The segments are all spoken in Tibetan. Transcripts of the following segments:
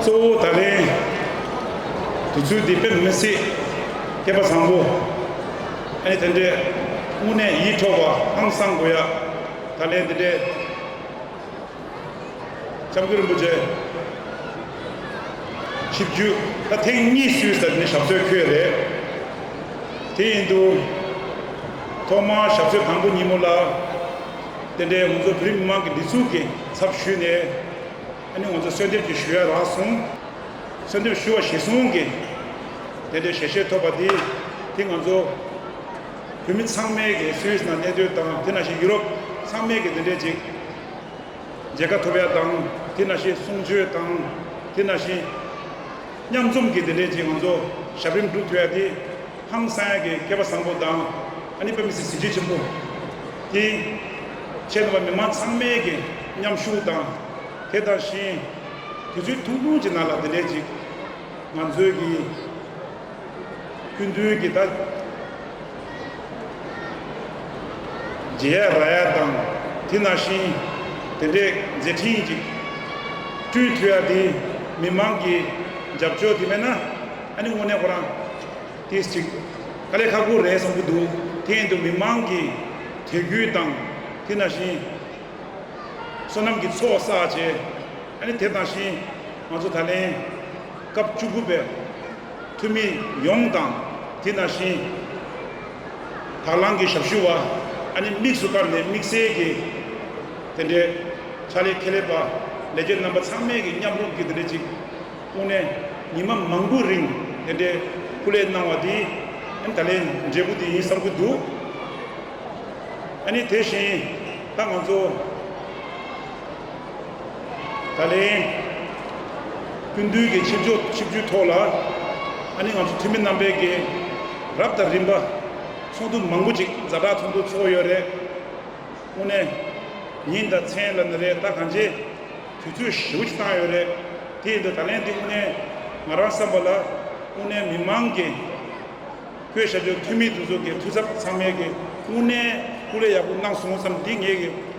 གཙོ་བོ་ད་ལན་དུས་ཚོད་འདི་ཕེབས་མི་སྲིད། སྐལ་པ་བཟང་པོ། ཨ་ནི་དེ་འདྲའི་དངོས་གནས་ཡིད་འཕྲོག་པ་ཧང་སང་དགོས་ཡ། ད་ལན་དེ་འདྲའི། ལྕམ་སྐུ་རིན་པོ་ཆེ། ཆིབས་བརྒྱུད་ད་ཐེངས་གཉིས་སུས་ཟེར་ནི་ཞབས་སྲོད་ཁྱོད་རེད། དེ་ཡིན་དུས། ཐོག་མར་ཞབས་སྲོད་དང་པོ་ཉིན་མོ་ལ། དེ་འདྲའི་ང་ཚོ་བོད་རིགས་མི་མང་གི་འདི་ཚུགས་ཀྱི་ཚབ་ཞུས་ནས། ཨ་ནི་ང་ཚོ་གསོལ་འདེབས་ཀྱི་ཞུ་ཡ་རག་གསུངས། གསོལ་འདེབས་ཞུ་བ་བཞེས་གསུངས་ཀྱིས། དེ་འདྲའི་ཞལ་བཞེས་ཐོབ་པ་འདིས་དེ་ང་ཚོ། བོད་མི་ཚང་མས་ཀྱི Swiss ནང་གནས་སྡོད་དང་དེ་ན་ཤི་ཡུ་རོབ་ཚང་མས་ཀྱི་འདི་འདྲའི་ཅིག་མཇལ་ཁ་ཐོབ་ཡ་དང་དེ་ན་ཤི་གསུང་ཆོས་དང་དེ་ན་ཤི་མཉམ་འཛོམས་ཀྱི་འདི་འདྲའི་ཅིག་ང་ཚོ་ཞབས་རིམ་སྒྲུབ་ཐུབ་ཡ་དེ་ཧང་སངས་ཀྱི་སྐལ་པ་བཟང་པོ་དང་ཨ་ནི་དཔེ་མི་སྲིད་གཟི་བརྗིད་ཆེན་པོ་དེ་ཆེད་དུ་བ་མི་མང་ཚང་མས་ཀྱི་མཉམ་ཞུགས་དང་དེ་དང་ཤི་དུས་ཚོད་ཐུང་ཐུང་ཅིག་ན་ལ་འདི་འདྲའི་ཅིག་ང་ཚོས་ཀྱི། ཀུན་དོན་གྱི་བདག། རྗེ་ཡ་ར་ཡ་དང་དེ་ན་ཤིང། དེ་འདྲས་མཛད་ཕྲིན་གྱིས། སྤྲུལ་མཐུ་ཡ་དེ་མི་མང་གི། འཇབ་ཆོག་དེ་མེད་ན། ཨ་ནི་དངོས་གནས་ཁོ་རང། དེས་ཅིག། ཀ་ལས་ཁ་སྒོ་རས་བཟང་པོ་འདུག་དེ་ཡན་དུ་མི་མང་གི། དད་གུས་དང། དེ་ན་ཤིང། བསོད་ནམས་ཀྱི་ཚོགས་བསགས་བྱས། ཨ་ནི་དེ་དང་ཤིང། ང་ཚོ་ད་ལན། སྐབས་བཅུ་དགུ་པའི། འཐུས་མི་ཡོངས་དང། དེ་ནང་བཞིན། དྭགས་ལང་གི་ཞབས་ཞུ་བ། ཨ་ནེ་དམིགས་སུ་བཀར་ནས་དམིགས་བསལ་གྱི། དེ་འདྲའི། ཕྱག་ལས་ཁེ་ལས་པ། ལས་བྱེད་རྣམ་པ་ཚང་མས་ཀྱི་མཉམ་རུབ་ཀྱི་དེ་འདྲའི་ཅིག། དབུ་ནས། ཉིན་མ་མང་པོའི་རིང་དེ་འདྲའི། སྐུ་ལས་གནང་བ་དེ། ཨ་ནེ་ད་ལའི་འབྲས་བུ་དེ་ཡིན་བསམ་གྱི་འདུག། ཨ་ནེ་དེ་བཞིན། ད་ང་ཚོ། ད་ལན། ཀུན་འདུས་ཀྱི་ཆིབས་བསྒྱུར་ཆིབས་བསྒྱུར་ཐོག་ལ། ཨ་ནི་ང་ཚོ་འཐུས་མི་རྣམ་པས་ཀྱི་རབ་དང་རིམ་པ། ཚོགས་འདུ་མང་པོ་ཅིག་མཛའ་གྲགས་ཚོགས་འདུ་ཚོགས་ཡོད་རེད། དངོས་གནས། ཉིན་དང་མཚན་ལ་ནི་རེད་ད་གང་ཅེ། དུས་ཚོད་ཧྲིལ་བོ་ཅིག་བཏང་ཡོད་རེད། དེ་ཡིན་དུས་ད་ལན་འདི་དངོས་གནས་ང་རང་བསམ་པ་ལ། དངོས་གནས་མི་མང་གི། བོད་ཤར་ཕྱོགས་འཐུས་མི་འདི་ཚོ་གི་འཐུས་ཚབ་ཚང་མས་ཀྱི་དངོས་གནས་སྐུ་ལས་ཡག་པོ་གནང་སོང་བསམ་འདི་ངེད་ཀྱི།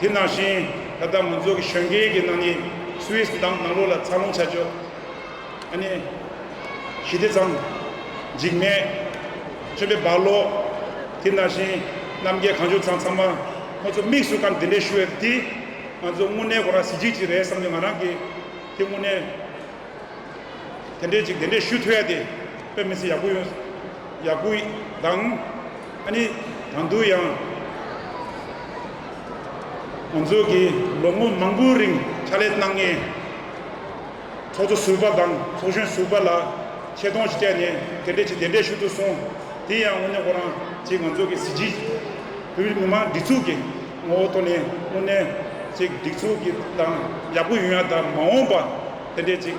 དེ་ནང་བཞིན་ད་ལྟ་མང་ཚོགས་ཀྱི་ཞོན་སྐེད་ཀྱི་ནང་ནས Swiss འདམ་ནང་ལོགས་ལ་འཚར་ལོངས་བྱ་ཆོག་ཨ་ནི། ཞི་བདེ་ཚང། འཇིགས་མེད། སྤྱོད་པའི་རྦ་ཀློག། དེ་ནང་བཞིན་རྣམ་རྒྱལ་གངས་ལྗོངས་ཚང་ཚང་མ་ཁོ་ཚོ་དམིགས་སུ་སྐམ་དེ་འདྲས་ཞུ་ཡོད་དེ། ང་ཚོ་དངོས་གནས་ཁོ་རང་གཟི་བརྗིད་ཅིག་རེད་བསམ་ནས་ང་རང་གིས་དེ་དངོས་གནས་དེ་འདྲས་ཅིག་དེ་འདྲས་ཞུ་ཐུབ་ཡ་དེ་དཔེ་མི་ཚེ་ཡག་པོ་ཡོང་ཡག་པོ་དང། ཨ་ནི། དང་དུ་ཡང། ང་ཚོ་གིས་ལོ་ངོ་མང་པོའི་རིང་ཕྱག་ལས་གནང་མཁན། ཚོགས་གཙོ་ཟུར་པ་དང་ཚོགས་གཞོན་ཟུར་པ་ལ་ཆེ་མཐོང་ཞིག་བསྐྱལ་ནས་དེ་འབྲེལ་གྱི་བདེ་འབྲས་ཞུ་དུ་སོང། དེ་ཡང་དངོས་གནས་ཁོ་རང་ཚེ་ང་ཚོ་གི་གཟི་བརྗིད། བོད་མི་མང་སྒྲིག་འཛུགས་ཀྱི་ངོ་བོ་ཐོག་ནས་དངོས་གནས་ཚེ་སྒྲིག་འཛུགས་ཀྱི་དང་ཡག་པོ་ཡོད་ཡང་དང་མ་འོངས་པ་དེ་འདྲས་ཅིག།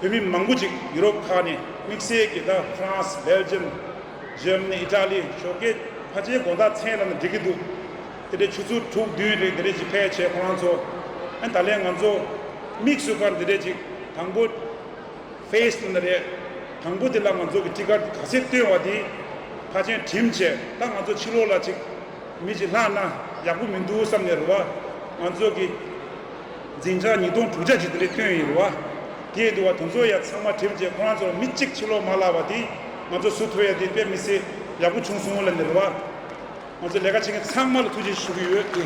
བོད་མི་མང་པོ་ཅིག་ཡུ་རོབ་ཁག་ནས་དམིགས་བསལ་གྱིས་ད་ཧྥ་རན་སི་སྦེལ་ཇམ་ཇར་མ་ནི་ཨི་ཏྲ་ལི་ཞོགས་ཀའི་ཕ་ཆའི་དགོང་དག་ཚེས་ལ་ནས་འགྲིག་གི་འདུག་དེ་འདྲའི་ཆུ་ཚོད་དྲུག་བདུན་རེ་འདི་འདྲས་ཅིག་ཕལ་ཆེར་ཁོ་རང་ཚོ་ཨེ་ད་ལས་ང་ཚོ་དམིགས་བསུ་སྐར་འདི་འདྲས་ཅིག་དང་པོ་ཕེས་ཏུ་ན་རེ་དང་པོ་དེ་ལ་ང་ཚོ་གི་སྤྲི་དཀར་ག་ཚད་བཏོན་བ་དེ་ཕ་ཆེན་དྲིན་ཆེ་ད་ང་ཚོ་ཕྱི་ལོག་ལ་ཅིག་མི་ཅིག་ལྷག་ན་ཡག་པོ་མི་འདུག་བསམ་ནས་རུ་བ་ང་ཚོ་གི། འཛིན་གྲྭ་ཉིས་སྟོང་དྲུག་བརྒྱ་ཅིག་དེ་འདྲས་ཐོན་ཡོད་རེད་བ། དེའི་བསྡུར་བ་དེ་ཚོ་ཡང་ཚང་མ་གྲིབ་རྗེས་ཁོ་རང་ཚོར་མི་གཅིག་ཕྱི་ལོག་མ་ལགས་པ་དེ། ང་ཚོ་སུ་ཐོ་ཡག་དེ་དཔེ་མི་སྲིད་ཡག་པོ་བྱུང་སོང་ལབ་ནས་རེད་བ། ང་ཚོ་ལས་ཀ་བྱེད་མཁན་ཚང་མ་ལ་ཐུགས་རྗེ་ཆེ་ཞུ་གི་ཡོད་དེ།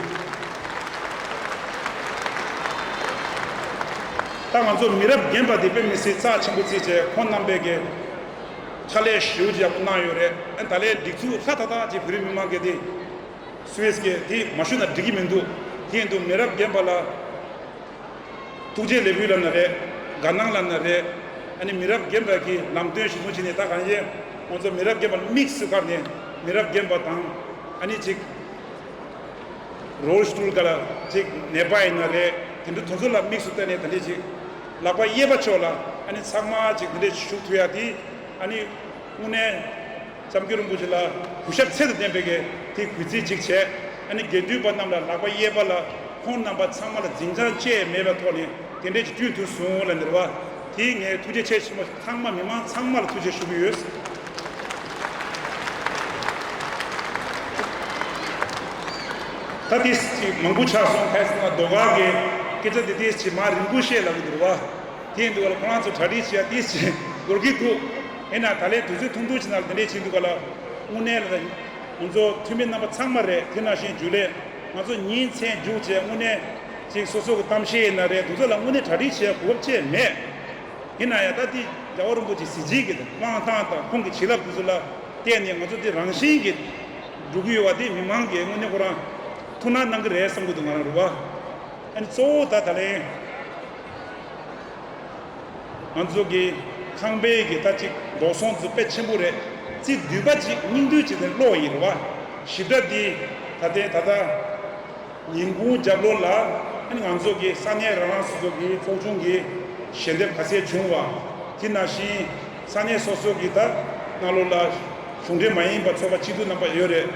ད་ང་ཚོ་མི་རབས་རྒན་པ་དེ་དཔེ་མི་སྲིད་རྩ་ཆེན་པོ་རྩིས་བྱས་ཁོང་རྣམ་པས་གི། ཕྱག་ལས་ཞེའུ་ཅིག་ཡག་པོ་གནང་ཡོད་རེད་ཨེ་ད་ལས་སྒྲིག་འཛུགས་ལྷ་ཐག་ཐག་ཅིག་བོད་རིགས་མི་མང་གི་དེ། སུའེ་ཟི་ཁའི་དེ་མ་ཞུས་ན་འགྲིག་གི་མི་འདུག་དེ་ཡིན་དུ་མི་རབས་རྒན་པ་ལ་ཐུགས་རྗེ་ལེགས་འབུལ་ལབ་ན་རེད་དགའ་སྣང་ལབ་ན་རེད་ཨ་ནི་མི་རབས་རྒན་པ་གིས་ལམ་སྟོན་ཞིག་ཟུང་བྱས་ནས་ད་གང་ཡིན་ཁོང་ཚོ་མི་རབས་རྒན་པ་ལ་དམིགས་སུ་བཀར་ནས་མི་རབས་རྒན་པ་དང་ཨ་ནི་ཅིག་རོལ་སྟུལ་ག་ལ་ཅིག་ནད་པ་ཡིན་ན་རེད་དེ་འདྲ་དོན་གཟོ་ལ་དམིགས་སུ་བལྟ་ནས་དེ་འདྲས་ཅིག་ལག་པ་གཡས་པ་ཕྱོགས་ལ་ཨ་ནི་ཚང་མ་ཅིག་དེ་འདྲས་ཞུགས་ཐུབ་ཡ་དེ་ཨ་ནི་དངོས་གནས། བརྩམ་རྒྱུད་རིན་པོ་ཆེ་ལ་གུས་ཞབས་ཚད་དུ་ལྡན་པའི་དེ་གུས་རྩི་གཅིག་བྱས། ཨ་ནི་དགེ་འདུན་པ་རྣམས་ལ་ལག་པ་གཡས་པ་ལ་ཁོང་རྣམ་པ་ཚང་མ་ལ་འཛིན་བྱང་བཅས་མེད་པའི་ཐོག་ནས་དེ་འབྲེལ་གྱི་དུས་དུས་སུ་ལ་ནེར་བ་དེས་ངས་ཐུགས་རྗེ་ཆེ་ཆེན་པོ་ལྷག་མ་མི་མང་ཚང་མ་ལ་ཐུགས་རྗེ་ཞུ་གི་ཡོད། ད་ཐེངས་སྐད་ཅིག་མང་པོ་ཆགས་སོང་ཁ་སང་ལ་ཟློས་གར་གྱི་སྐད་ཆ་དེ་ཐེངས་གཅིག་མ་རིན་པོ་ཆེ་ལ་གི་འདུག་བ་དེ་འདུག་བ་ལ་ཁོང་རང་ཚོ་གྲ་སྒྲིག་བྱས་ཡ་ཐེངས་གཅིག་འགོར་གི་འདུག། དེས་ན་ད་ལན་དུས་ཚོད་ཐུང་ཐུང་ཞིག་ནང་ལ་དེ་འདྲས་བྱས་འདུག་པ་ལ་དངོས་གནས་ལ། ང་ཚོ་འཐུས་མི་རྣམ་པ་ཚང་མ་རེད་དེ་ནང་བཞིན་འཇུག་ལས་ང་ཚོ་ཉིན་མཚན་རྒྱུགས་བྱས་དངོས་གནས་ཅིག་སོ་སོ་གི་གཏམ་བཤད་ཡིན་ན་རེད་འདུག་ཚོ་ལ་དངོས་གནས་གྲ་སྒྲིག་བྱས་གོ་བབ་བཅས་མེད། ཡིན་ན་ཡང་ད་ལྟའི་རྒྱ་བོད་རིན་པོ་ཆེ་གཟི་བརྗིད་ཀྱི་དབང་ཐང་དང་ཁོང་གི་བྱིན་རླབས་དེ་ཚོ་ལ་བརྟེན་ནས་ང་ཚོ་འདི་རང་བཞིན་གྱིས་འགྲོ་གི་ཡོད་བ་དེ་མི་མང་གིས་དངོས་གནས་ཁོ་རང་ཐུགས་སྣང་གནང་གི་རེད་བསམ་གྱི་འདུག་ང་རང་རེད་བ། ཨ་ནི་གཙོ་བོ་ད་ད་ལན། ང་ཚོ་གི་ཁང་དཔེ་གི་རྟ་གཅིག་འབྲོག་སོང་རྫུ་དཔེ་ཆེན་པོ་རེད་རྩིས་འདུས་པ་གཅིག་སྙིང་འདུས་བྱེད་དེ་ཀློག་ཡིན་རེད་བ་ཞིབ་ཕྲ་འདི་ད་ལྟའི་ད་ལྟ་ཉིན་གུང་རྒྱབ་ལོ་ལ་ཨ་ནི་ང་ཚོ་གི་ས་གནས་རང་རང་སོ་སོ་གི་ཚོགས་ཆུང་གི་ཞལ་འདེབས་ག་ཚད་བྱུང་བ་དེ་ནང་བཞིན་ས་གནས་སོ་སོ་གི་ད་སྔ་ལོ་ལ་གཞུང་འབྲེལ་མ་ཡིན་པ་ཚོགས་པ་གཅིག་བསྡུ་གནང་པ་ཡོད་རེད་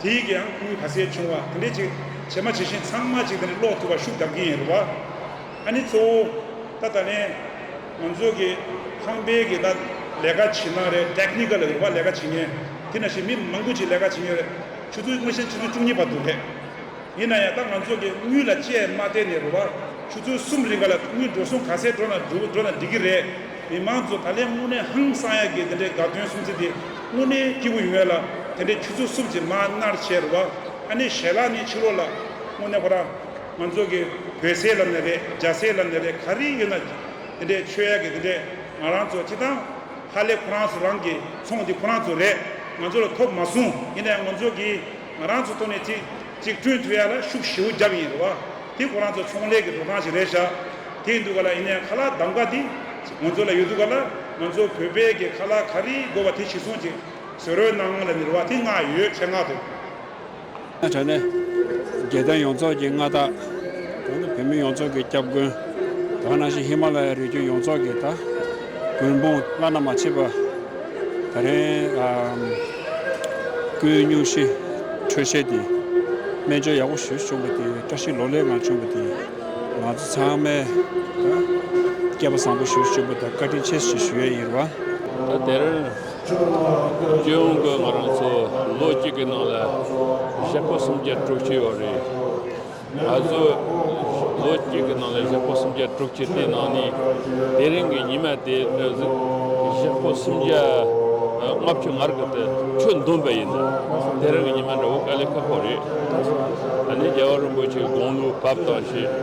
དེ་ཡི་གི་ཡང་ཁུར་ག་ཚད་བྱུང་བ་དེ་འདྲས་གཅིག་བྱེད་མ་བྱེད་བཞིན་ཚང་མ་གཅིག་དེ་འདྲས་ཀློག་ཐུབ་པ་ཤུགས་རྒྱབ་ཀྱིན་ཡིན་རེད་བ། ཨ་ནི་གཙོ་བོ། ད་ད་ལན། ང་ཚོ་གི། ཁང་པའི་གི་ད། ལས་ཀ་བྱེད་ན་རེད Technical རིག་པ་ལས་ཀ་བྱེད་ངེས། དེ་ན་བཞིན་མི་མང་པོ་ཅིག་ལས་ཀ་བྱེད་ངེས་རེད། ཆུ་ཚོད་སྔོན་བཤད་ཆུ་ཚོད་བཅུ་གཉིས་བར་འདུག་རེད། ཡིན་ན་ཡང་ད་ང་ཚོ་གི་དངུལ་ལ་ཅེས་མ་བལྟས་ནས་རུ་བ། ཆུ་ཚོད་གསུམ་རིང་ག་ལ་དངུལ་འགྲོ་སོང་ག་ཚད་འགྲོ་ན་འགྲོ་འགྲོ་ན་འགྲིག་གི་རེད། མི་མང་ཚོ་ད་ལན་དངོས་གནས་ཧང་སང་ཡག་གི་དེ་འདྲའི་དགའ་སྟོན་སྲུང་བརྩི་དེ་དངོས་གནས་སྐྱིད་པོ་ཡོད་ལ། དེ་འདྲའི་ཆུ་ཚོད་གསུམ་ཅིག་མ་མནར་བྱས་རུ་བ། ཨ་ནི་ཞལ་ལག་ནི་ཕྱི་ལོག་ལ། དངོས་གནས་ཁོ་རང། ང་ཚོ་གི་བོད་ཟས་ལབ་ནས་རེད་རྒྱ་ཟས་ལབ་ནས་རེད་ག་རེ་ཡོད་ན་དེ་འདྲའི་ཆོས་ཡག་གི་དེ་འདྲས་ང་རང་ཚོ་ཅི་ཐང་ཧ་ལས་ཁོ་རང་ཚོ་རང་གི་ཚོང་འདི་ཁོ་རང་ཚོ་རེད་ང་ཚོ་ལ་ཐོབ་མ་སོང་ཡིན་ནའི་ང་ཚོ་གི་ང་རང་ཚོ་ཐོག་ནས་ཅིག་ཅིག་བསྐྲུན་ཐུབ་ཡག་ལ་ཤུགས་ཞེའུ་རྒྱབ་ཡིན་རེད་བ་དེ་ཁོ་རང་ཚོ་ཚོང་ལས་གི་འགྲོ་སྟངས་ཞིག་རེད་ཤག་དེ་འདུག་ག་ལ་ཡིན་ནའི་ཁ་ལག་གདམ་ཀ་འདི་ང་ཚོ་ལ་ཡོད་འདུག་ག་ལ་ང་ཚོ་བོད་པའི་གི་ཁ་ལག་ག་རེ་དགོས་བ་དེ་ཞིག་སོང་ཅིག་བཟོས་རོལ་གནང་ང་ལ་ནི་རེད་བ་དེ་ངག་ཡོད་ཁྱེད་ངག་དུ། ནས་བྱ་ནི། རྒྱལ་བསྟན་ཡོངས་རྫོགས་ཀྱི་མངའ་བདག། གང་ནི་བོད་མི་ཡོངས་རྫོགས་ཀྱི་སྐྱབས་མགོན། གང་ནང་བཞིན་ཧི་མ་ལ་ཡའི་རི་རྒྱུད་ཡོངས་རྫོགས་ཀྱི་དགོན། དཔུང་བླ་ན་མ་མཆིས་པ། ད་རེངས། ཀུན་སྙུང་ཞི་ཁྲོའི་བཤད་དེ། སྨན་བཅོས་ཡག་པོ་ཞུས་བྱུང་བ་དེ། བཀྲ་ཤིས་ལོ་ལེགས་ངང་བྱུང་བ་དེ། ང་ཚོ་ཚང་མས། སྐལ་པ་བཟང་པོ་ཞུས་བྱུང་བ་དང་བཀའ་དྲིན་ཆེ་ཞུ་ཡས་ཡིར་བ། ད་དེར། སྤྱི་ཡོངས་ཀྱི་ང་རང་ཚོ་ལོ་གཅིག་གི་ནང་ལ་གཞས་པོ་སུམ་བརྒྱ་དྲུག་བྱས་ཡོད་རེད། ང་ཚོ་ལོ་གཅིག་གི་ནང་ལ་གཞས་པོ་སུམ་བརྒྱ་དྲུག་བྱས་དེའི་ནང་ནས་དེ་རིང་གི་ཉི་མ་དེ་ནི་གཞས་པོ་སུམ་བརྒྱ་ལྔ་བཅུ་ང་རྒྱལ་དུ་ཆུ་འདོན་པ་ཡིན། དེ་རིང་གི་ཉི་མ་འདྲ་བོ་དཀའ་ལས་ཁག་པོ་རེད། ད་ནི་རྒྱལ་བ་རིན་པོ་ཆེའི་དགོངས་ལུགས་བབས་དང་ཞེས་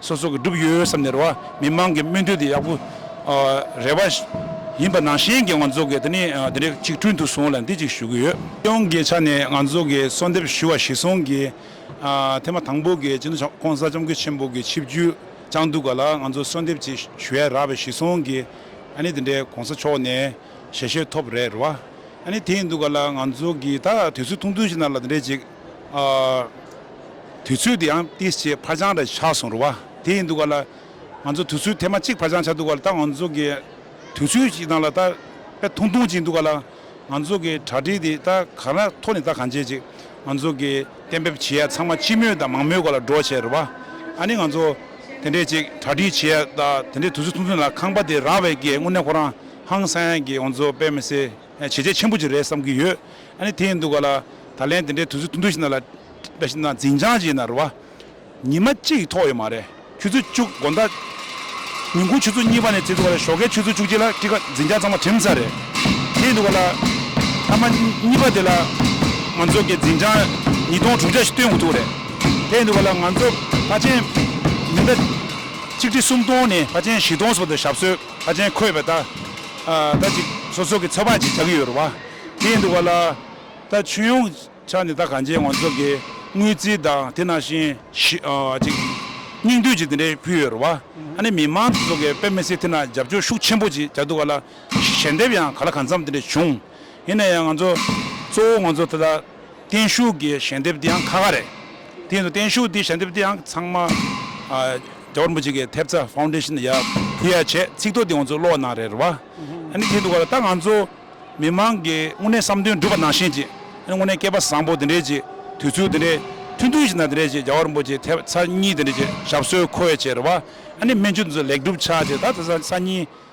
སོ་སོ་གི་སྒྲུབ་ཡོད་བསམ་ནས་རེ་བ་མི་དམངས་ཀྱི་སྨོན་འདུན་དེ་ཡག་པོ་རེ་བ་ཡིན་པ་ནང་བཞིན་གྱི་ང་ཚོ་གི་དེ་ནི་དེ་འདྲའི་གཅིག་མཐུན་དུ་སོང་ལ་འདི་གཅིག་ཞུ་གི་ཡོད། སྟེས་དབང་གི་ཆ་ནས་ང་ཚོ་གི་གསོལ་འདེབས་ཞུ་བ་གཞི་སོང་གི་ཐེངས་མ་དང་པོ་གི་སྤྱི་འདུས་ཆབ་ཁོང་གསར་བྱམས་ཀུན་ཆེན་པོ་གི་ཆིབས་བརྒྱུད་བཅངས་འདུག་ག་ལ་ང་ཚོ་གསོལ་འདེབས་ཅིག་ཞུ་ཡས་རག་པའི་གཞི་སོང་གི་ཨ་ནི་དེ་འདྲའི་གོང་ས་མཆོག་ནས་ཞལ་བཞེས་ཐོབ་རེད་རེ་བ་ཨ་ནི་དེ་ཡིན་འདུག་ག་ལ་ང་ཚོ་གི་ད་དུས་ཚོད་ཐུང་ཐུང་ཞིག་ན་ལ་དེ་འདྲའི་ཅིག་དུས་ཚོད་དེ་ཡང་ཏིས་ཅེས་འཕར་འགྱངས་རེ་ཆགས་སོང་རེད་བ། དེ་ཡིན་འདུག་ག་ལ། ང་ཚོ་དུས་ཚོད་དེ་མ་གཅིག་འཕར་འགྱངས་ཆགས་འདུག་ག་ལ་ད་ང་ཚོ་གི་དུས་ཚོད་ཀྱི་ནང་ལ་ད་དཔེ་ཐུང་ཐུང་ཅིག་འདུག་ག་ལ། ང་ཚོ་གི་གྲ་སྒྲིག་དེ་ད་གང་ར་ཐོག་ནས་ད་གང་བྱེད་ཅིག་ང་ཚོ་གི་གཏན་འབེབས་བྱེད་ཡ་ཚང་མ་སྤྱི་མོས་དང་མང་མོས་གོ་ལ་སྒྲོག་བྱས་རེད་བ། ཨ་ནི་ང་ཚོ་དེ་འདྲས་ཅིག་གྲ་སྒྲིག་བྱེད་ཡ་ད་དེ་འདྲས་དུས་ཚོད་ཐུང་ཐུང་ལ་ཁང་པ་དེ་རག་བས་ཀྱི་དངོས་གནས་ཁོ་རང་ཧང་སངས་ཀྱི་ང་ཚོ་དཔེ་མི་སྲིད། བྱས་རྗེས་ཆེན་པོ་ཅིག་རེད་བསམ་གྱི་ཡོད། ཨ་ནི་དེ་ཡིན་འདུག་ག་ལ། ད་ལན་དེ་འདྲའི་དུས་ཚོད་ཐུང་ཐུང་ཞིག་ན་ལ། འདྲ་ཞིག་ན་འཛིན་བྱང་ཞིག་ན་རུ་བ། ཉི་མ་གཅིག་གིས་ཐོགས་ཡོད་མ་རེད། ཆུ་ཚོད་བཅུ། དགོན་བདག། ཉིན་གུང་ཆུ་ཚོད་གཉིས་པ་ནས་བརྩིས་འདུག་ག་ལ་ཞོགས་ཀའི་ཆུ་ཚོད་བཅུ་གཅིག་ལ་ཀི་ཀ་འཛིན་བྱང་ཚང་མ་བྲིམས་ས་རེད། དེ་ཡིན་འདུག་ག་ལ། མཐའ་མ། གཉིས་པ་དེ་ལ། ང་ཚོ་གི་འཛིན་བྱང། ཉིས་སྟོང་དྲུག་བརྒྱ་ཞིག་སྟོན་དགོས་ཐུག་རེད། དེ་ཡིན་འདུག་ག་ལ་ང་ཚོ་ཕ་ཆེན། ཉི་ཟླ། གཅིག་ཁྲི་སུམ་སྟོང་ནས་ཕ་ཆེན་བཞི་སྟོང་སོགས་དུ་ཞབས་སོད། ཁ་ཆེན་འཁོད་པའི་རྟ། རྟ་ཅིག་སོ་སོ་གི་ཚོ་བག་ཅིག་བྱ་གི་ཡོད་རུ་བ། དེའི་འདུག་པ་ལ། རྟ་ཆུང་ཡོང་ཆ་ནི་རྟ་གང་ཅིའི་ངོ་མཚོ་གི་དངུལ་རྩིས་དང་དེ་ནང་བཞིན་ཞི། ཅིག། སྙིང་བསྡུས་ཅིག་དེ་འདྲའི་ཕུལ་ཡོད་རུ་བ། ཨ་ནི་མི་མང་ཚོ་གི་དཔེ་མི་སྲིད་དེ་ན་རྒྱབ་སྐྱོར་ཤུགས་ཆེན་པོ་ཅིག་བྱ་འདུག་བ་ལ། ཞལ་འདེབས་ཡང་ག་ལ་གང་འཚམས་དེ་འདྲ་བྱུང། ཡིན་ན་ཡང་ང་ཚོ་གཙོ་བོ་ང་ཚོ་ད་ལྟ། བརྟན་བཞུགས་ཀྱི་ཞལ་འདེབས་དེའང་ཁ་ཁ་རེད། དེ་ཡིན་དུ་བརྟན་བཞུགས་དེའི་ཞལ་འདེབས་དེའང་ཚང་མ་རྒྱ་བོད་རིན་པོ་ཆེ་གི་ཐེབས་རྩ Foundation ཡ་བུ་ཡ་བྱས་ཚིག་ཐོ་དེ་ང་ཚོ་ཀློག་གནང་རེད་བ། ཨ་ནི་དེ་འདུག་ག་ད་ང་ཚོ་མི་མང་གི་དངོས་གནས་བསམ་དོན་འགྲུབ་པ་ནང་བཞིན་གྱི་ཨ་ནི་དངོས་གནས་སྐལ་པ་བཟང་པོ་དེ་འདྲའི་གྱི་དུས་ཚོད་དེ་འདྲའི་ཐུང་ཐུང་ཞིག་ན་དེ་འདྲའི་གྱི་རྒྱ་བོད་རིན་པོ་ཆེའི་ཐེབས་རྩ་གཉིས་དེ་འདྲའི་གྱི་ཞབས་སོའི་མཁོ་བའི་གྱི་རེད་བ། ཨ་ནི་སྨན་བཅོས་དེ་ཚོ་ལེགས་འགྲུབ་ཆགས་ཀྱི་ད་ད་ས་གཉིས